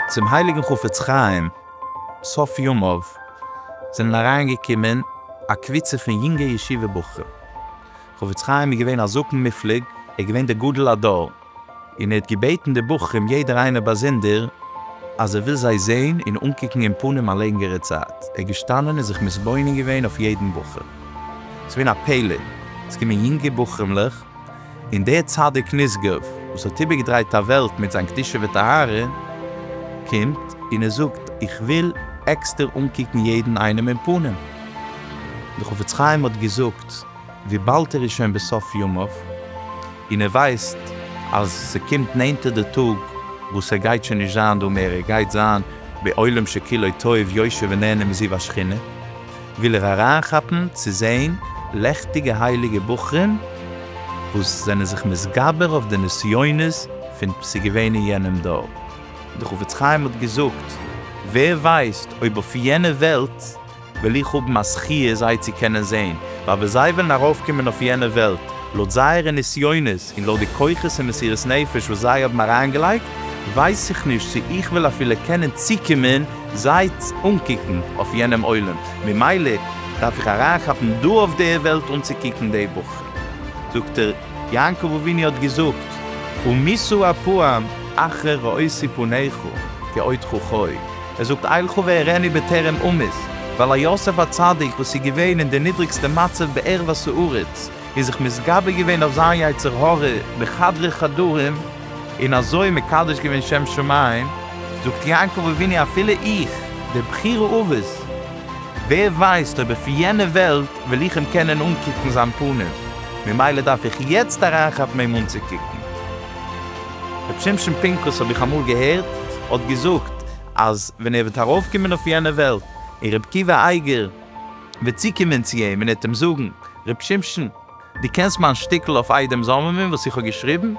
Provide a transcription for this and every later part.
צום הייליגן חפץ חיים סוף ימיו זענען אריינגעקומען א קבוצה פון יונגע ישיבה בחורים, חפץ חיים איז געווען א זקן מופלג, ער איז געווען דער גדול הדור, און ער האט געבעטן די בחורים יעדער איינער באזונדער אז ער וויל זיי זעהן און אנקוקן אין פנים א לענגערע צייט, ער איז געשטאנען און זיך מתבונן געווען אויף יעדן בחור, עס איז געווען א פלא, עס קומען יונגע בחורים'לעך, און דער צדיק נשגב וואס האט איבערגעדרייט א וועלט מיט זיין קדושה וטהרה, קומט און ער זאגט איך וויל עקסטער אנקוקן יעדן איינעם אין פנים, דער חפץ חיים האט געזאגט. וויבאלד ער איז שוין בסוף ימיו, און ער ווייסט אז ס'קומט נענטער די טאג וואס ער גייט שוין נישט זיין דא מער, ער גייט זיין בעולם שכולו טוב יושב ונהנה מזיו השכינה, וויל ער אריינכאפן צו זען לעכטיגע הייליגע בחורים וואס זענען זיך מתגבר אויף די נסיונות פון ס'געווען אין יענעם דור. דער חפץ חיים האט געזאגט, ווער ווייסט אויב אויף יענע וועלט. וועל איך האבן א זכיה זיי צו קענען זען, ווייל ווען זיי וועלן ארויפקומען אויף יענע וועלט, לויט זייערע נסיונות און לויט די כוחות און מסירות נפש וואס זיי האבן אריינגעלייגט, ווייס איך נישט צו איך וועל אפילו קענען צוקומען זיי אנקוקן אויף יענעם עולם, ממילא דארף איך אריינכאפן דא אויף די וועלט אנצוקוקן די בחורים. זאגט ער, יעקב אבינו האט געזאגט, ומישא אפם אחר ראיתי פניך כאותך חוי. ער זאגט אילכא והראני בטרם אמות, ווייל א יוסף הצדיק וואס איז געווען אין די נידריגסטע מצב בערבות הארץ, איז זיך מתגבר געווען אויף זיין יצר הרע בחדרי חדרים, און אזוי מקדש געווען שם שמים, זאגט יעקב אבינו אפילו איך, דער בחור האבות, ווער ווייסט אויב אויף יענע וועלט וועל איך אים קענען אנקוקן זיין פנים, ממילא דארף איך יעצט אריינכאפן אים אנצוקוקן. ר' שמשון פינקוס האב איך אמאל געהערט האט געזאגט אז ווען ער וועט ארויפקומען אויף יענע וועלט און ר' עקיבא אייגער וועט צוקומען צו אים און ער וועט אים זאגן ר' שמשון דו קענסט מיין שטיקל אויף איידעם זאממען וואס איך האב געשריבן?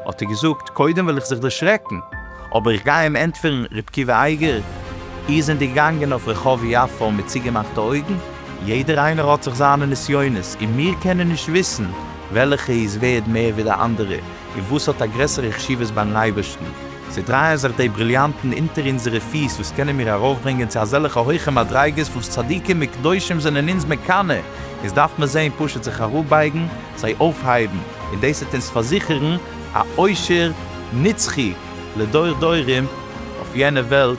האט ער געזאגט קודם וועל איך זיך דערשרעקן אבער איך גיי אים ענטפערן ר' עקיבא אייגער איר זענט געגאנגען אויף רחוב יפו מיט צוגעמאכטע אויגן? יעדער איינער האט זיך זיינע נסיונות און מיר קענען נישט וויסן וועלכע איז ווערד מער ווי די אנדערע, און וואס האט א גרעסערע חשיבות ביים אייבערשטן. זיי דרייען זיך די בריליאנטן אונטער אונזערע פיס וואס קענען מיר ארויפברענגען צו אזעלכע הויכע מדריגות וואס צדיקים וקדושים זענען אונז מקנא, אונז דארף מען זיי און פשוט זיך אראפבייגן, זיי אויפהייבן, און דאס וועט אונז פארזיכערן א עושר נצחי לדור דורים אויף יענע וועלט.